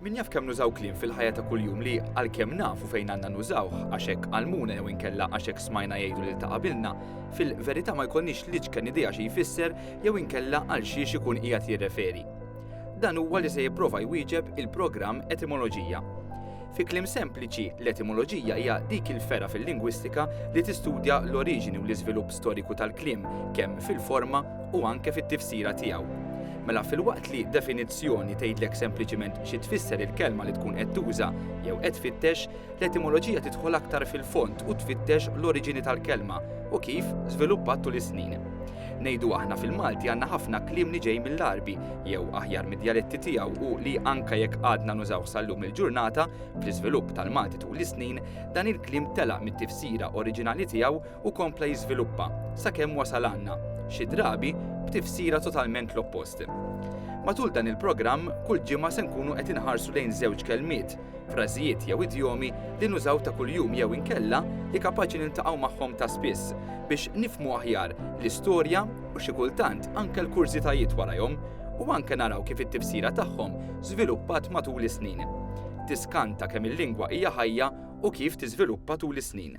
Min jaf kemm nużaw kliem fil-ħajja ta' kuljum li għalkemm nafu fejn għandna nużawh għax hekk għallmuna jew inkella għax hekk smajna jgħidu lil ta' qabilna, fil-verità ma jkollniex l-iċken idea xi jfisser jew inkella għal xiex ikun qiegħed jirreferi. Dan huwa li se jipprova jwieġeb il-programm Etimoloġija. Fi kliem sempliċi, l-etimoloġija hija dik il-fergħa fil-lingwistika li tistudja l-oriġini u l-iżvilupp storiku tal-kliem, kemm fil-forma u anke fit-tifsira tiegħu. Mela filwaqt li definizzjoni tgħidlek sempliċiment xi tfisser il-kelma li tkun qed tuża jew qed tfittex, l-etimoloġija tidħol aktar fil-fond u tfittex l-oriġini tal-kelma u kif żviluppat tul is-snin. Ngħidu aħna fil-Malti għandna ħafna kliem li ġej mill-Għarbi, jew aħjar mid-djaletti tiegħu u li anke jekk għadna nużawh sal-lum il-ġurnata, bl-iżvilupp tal-Malti tul is-snin, dan il-kliem telaq mit-tifsira oriġinali tiegħu u kompla jiżviluppa, sakemm wasal għandna, xi drabi, b'tifsira totalment l-oppost. Matul dan il-programm, kull ġimgħa se nkunu qed inħarsu lejn żewġ kelmiet, frażijiet jew idjomi li nużaw ta' kuljum jew inkella li kapaċi niltaqgħu magħhom ta' spiss, biex nifhmu aħjar l-istorja u xi kultant anke l-kurżitajiet warajhom, u anke naraw kif it-tifsira tagħhom żviluppat matul is-snin. Tiskanta kemm il-lingwa hija ħajja u kif tiżviluppa tul is-snin.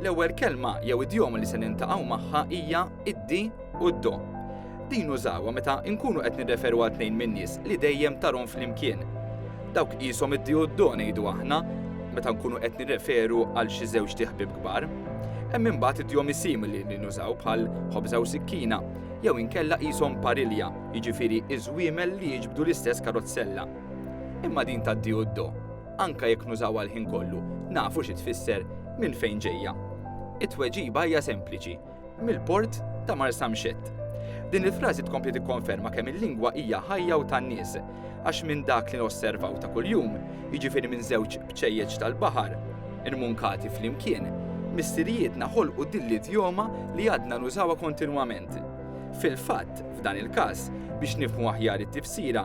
L-ewwel kelma jew idjoma li se nintaqgħu magħha hija id-di u d-do. Din użawha meta nkunu qed nirreferu għal tnejn min-nies li dejjem tarhom flimkien. Dawk qishom id-di u d-do ngħidu aħna meta nkunu qed nirreferu għal xi żewġ tiħbib kbar. Hemm imbagħad idjomi simili li nużaw bħal ħobża u sikkina jew inkella qishom parilja, jiġifieri iż-żwiemel li jiġbdu l-istess karozzella. Imma din tad-di u d-do anke jekk nużawha l-ħin kollu, nafu xi tfisser, minn fejn ġejja. It-tweġiba hija sempliċi, mill-port ta' Marsamxett. Din il-frażi tkompli tikkonferma kemm il-lingwa hija ħajja u tan-nies, għax minn dak li nosservaw ta' kuljum, jiġifieri minn żewġ bċejjeċ tal-baħar, immunkati flimkien, missirijietna ħolqu din l-idjoma li għadna nużawha kontinwament. Fil-fatt, f'dan il-każ, biex nifhmu aħjar it-tifsira,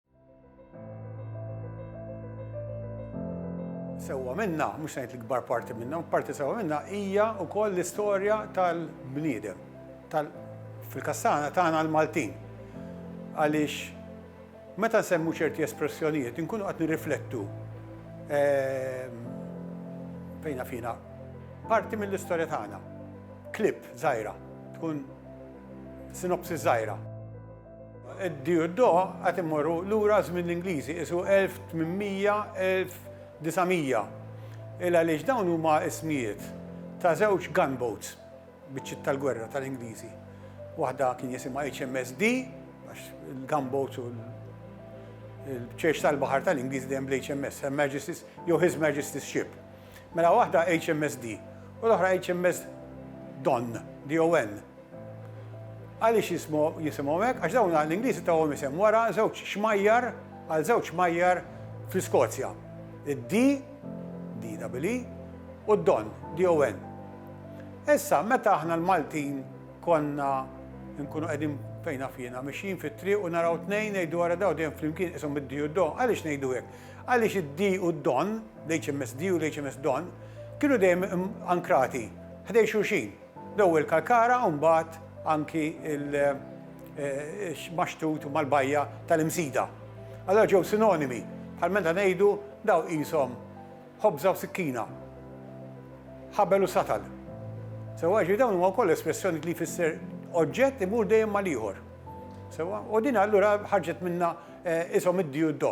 Sewwa minna, mhux ngħid l-ikbar parti minna, parti sewwa minna hija wkoll l-istorja tal-bniedem, tal fil-kastana tagħna l-Maltin. Għaliex meta nsemmu ċerti espressjonijiet inkunu qed nirriflettu ehm, fejna fina parti mill-istorja tagħna. Klip żgħira, tkun sinopsi żgħira. Id-Dieudo għad immorru lura għaż-żmien l-Ingliżi, qisu 1800-1900, il għaliex dawn huma ismijiet ta' żewġ gunboats, biċċiet tal-gwerra tal-Ingliżi. Waħda kien jisimha HMS Dee, għax il-gunboats u l-bċejx tal-baħar tal-Ingliżi dejjem bl-HMS, Her Majesty's jew His Majesty's Ship. Mela waħda HMSD u l-oħra HMS Don, D-O-N. Għaliex jisimhom hekk? Għax dawn l-Ingliżi tawhom isem wara żewġ xmajjar għal żewġ xmajjar fl-Iskozja. Id-D, D double E, u d-Don, D-O-N. Issa, meta aħna l-Maltin konna nkunu qegħdin fejn naf jiena, mixjin fit-triq u naraw tnejn ngħidu wara daw dejjem flimkien ishom id-D u d-Don, għaliex ngħidu hekk? Għaliex id-D u d-Don, l-HMSD u l-HMSDon, kienu dejjem ankrati ħdejn xulxin, l-ewwel Kalkara u mbagħad anki l-Maxtut mal-bajja tal-Imsida. Allura ġew sinonimi, bħal meta ngħidu dawn qishom ħobża u sikkina, ħabel u satal. Sewwa? Jiġifieri dawn huma wkoll espressjonijiet li jfisser oġġett imur dejjem mal-ieħor. Sewwa? U din allura ħarġet minnha ishom id-D u d-Do.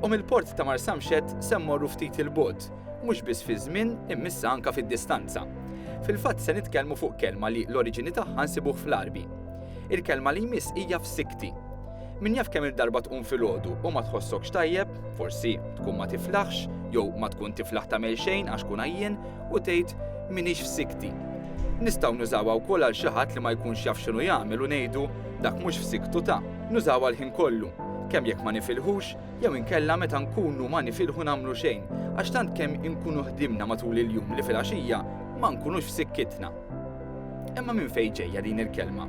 U mill-port ta' Marsamxet se mmorru ftit il-bot, mhux biss fi żmien immissa anka fid-distanza. Fil-fatt se nitkellmu fuq kelma li l-oriġini tagħha nsibuh fl-Għarbi. Il-kelma li jmiss hija f'sikti. Min jaf kemm-il darba tqum filgħodu u ma tħossokx tajjeb, forsi tkun ma tiflaħx jew ma tkun tiflaħ tagħmel xejn għax tkun għajjien u tgħid, M'iniex f'sikti. Nistgħu nużawha wkoll għal xi ħadd li ma jkunx jaf x'inhu jagħmel u ngħidu, Dak mhux f'siktu ta'. Nużawha l-ħin kollu, kemm jekk ma nifilħux jew inkella meta nkunu ma nifilħu nagħmlu xejn għax tant kemm inkunu ħdimna matul il-jum li filgħaxija ma nkunux f'sikkitna. Imma minn fejn ġejja din il-kelma?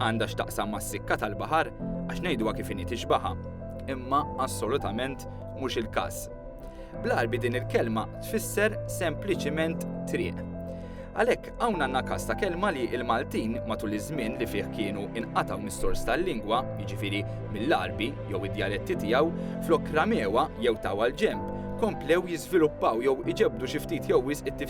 Għandha x'taqsam mas-sikka tal-baħar għax ngħiduha kif inhi tixbaħha, imma assolutament mhux il-każ. Bl-Għarbi din il-kelma tfisser sempliċiment triq. Għalhekk hawn għandna każ ta' kelma li l-Maltin matul iż-żmien li fih kienu inqatgħu mis-sors tal-lingwa, jiġifieri mill-Għarbi jew id-djaletti tiegħu, flok ramewa jew taw għal ġenb, komplew jiżviluppaw jew iġebdu xi ftit jew wisq it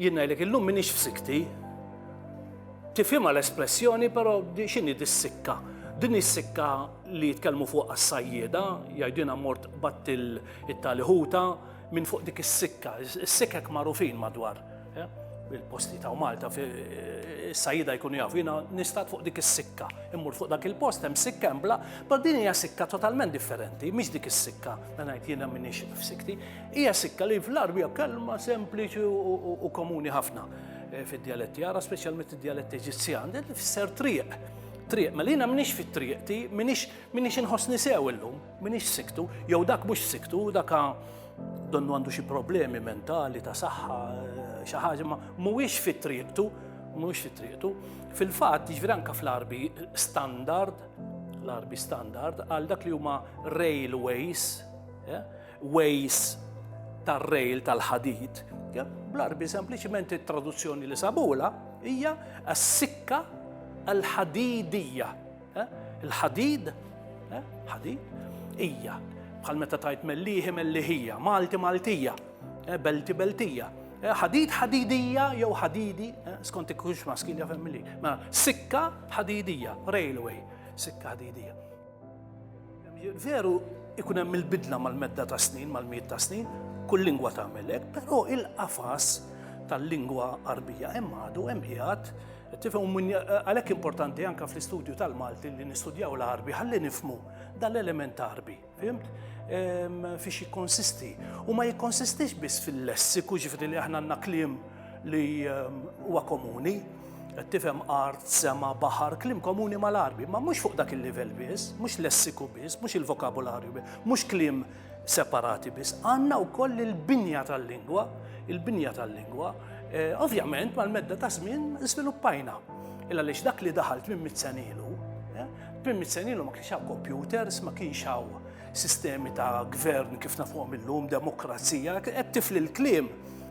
Jien ngħidlek illum m'iniex f'sikti. Tifhimha l-espressjoni, però x'inhi dis-sikka? Din is-sikka li jitkellmu fuq għas-sajjieda, jgħidilha mort batt it-tali ħuta minn fuq dik is-sikka. Is-sikkek magħrufin madwar eh, il-posti ta' Malta eh, is-sajjieda jkunu jafu jiena nistat fuq dik is-sikka. Immur fuq dak il-post hemm sikka hemm bla, però din hija sikka totalment differenti, mhix dik is-sikka li ngħid jiena m'iniex f'sikti. Hija sikka li fl-Għarbi hija kelma sempliċi u komuni ħafna eh, fid-djaletti għara, speċjalment id-djaletti Eġizzjan, li tfisser triq. Triq, mela jiena minix fit-triq ti, minix inħossni sew illum, minix siktu, jew dak mhux siktu, daka donnu għandu xi problemi mentali ta' saħħa, eh, xi ħaġa ma mhuwiex fit-triqtu, mhuwiex fit-triqtu. Fil-fatt, jiġri anke fl-Arbi standard, l-Arbi standard, għal dak li huma railways, eh, ways tar-rail tal-ħadid, bl-Għarbi sempliċement it-traduzzjoni li sabula hija s-sikka l-ħadidija. Eh? Il-ħadid, eh? ħadid, hija bħal meta tajt melliħi melliħija, Malti Maltija, eh, Belti Beltija. Ħadid ħadidija jew ħadidi, skont ikkunx maskil jafem milli. Ma sikka ħadidija, railway, sikka ħadidija. Veru ikun hemm il-bidla mal-medda ta' snin, mal-miet ta' snin, kull lingwa tagħmel hekk, però il-qafas tal-lingwa Arbija hemm għadu hemm qiegħed tifhem għalhekk importanti anke fl-istudju tal-Malti li nistudjaw l-Arbi ħalli nifmu dal-element Arbi, fimt? Fiex jikkonsisti. U ma jikkonsistix biss fil-lessiku ġifri li aħna għandna kliem li ehm, huwa komuni, qed tifhem art, sema, baħar, klim komuni mal-arbi, ma mhux fuq dak il-livell biss, mhux lessiku biss, mhux il-vokabularju biss, mhux klim separati biss, għandna wkoll il-binja tal-lingwa, il-binja tal-lingwa, eh, ovvjament mal-medda ta' żmien żviluppajna. Illa lix dak li daħalt minn mitzenilu, eh, minn mitzenilu ma kienx hawn computers, ma kienx hawn sistemi ta' gvern kif nafhom illum, demokrazija, qed tifli l-klim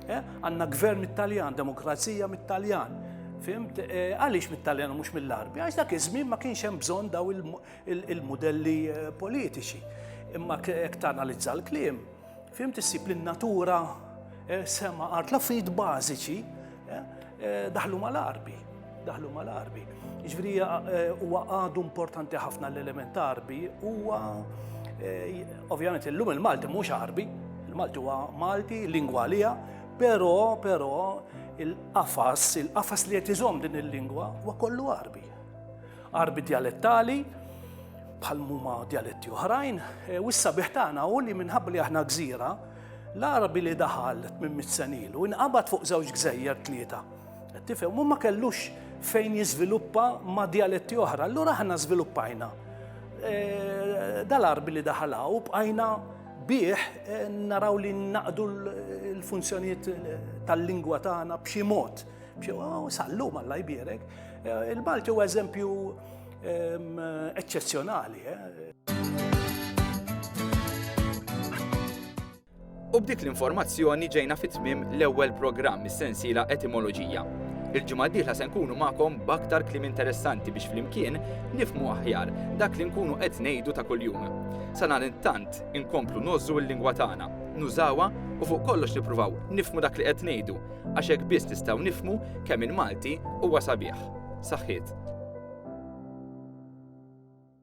Eh, għanna gvern mit-Taljan, demokrazija mit-Taljan. Fimt, eh, għaliex mit-Taljan u mhux mill-Arbi? Għax dak iż-żmien ma kienx hemm bżonn daw il-modelli eh, politiċi. Imma jekk tanalizza l-kliem, fimt issib li natura sema art l-affarijiet bażiċi daħlu mal-Arbi. daħlu mal-arbi. Ġviri eh, huwa għadu importanti ħafna l-element arbi, huwa eh, ovvjament illum il-Malti mhux arbi, il-Malti huwa Malti, lingwa għalija, però però il-qafas, il-qafas li qed iżomm din il-lingwa huwa kollu arbi. Arbi dialettali, bħal muma dialetti oħrajn, eh, u issa biħtana u li minħabba li aħna gżira, l-Arabi li daħal minn mit-senilu, inqabad fuq żewġ gżejjer tlieta Qed tifhem, u ma kellux fejn jiżviluppa ma' djaletti oħra. Allura aħna żviluppajna eh, dal-arbi li daħala u bqajna bih eh, naraw li naqdu l-funzjonijiet eh, tal-lingwa tagħna b'xi mod. Oh, sallu malla jbierek. Eh, Il-Malti huwa eżempju ehm, eċċezzjonali. U b'dik l-informazzjoni ġejna fi tmiem l-ewwel programm mis-sensiela Etimoloġija. Il-ġimgħa d-dieħla se nkunu magħkom b'aktar kliem interessanti biex flimkien nifmu aħjar dak li nkunu qed ngħidu ta' kuljum. Sa dan it-tant inkomplu nożżu l-lingwa tagħna, nużawha u fuq kollox nippruvaw nifmu dak li qed ngħidu għax hekk biss nistgħu nifmu kemm il-Malti huwa sabiħ. Saħħiet.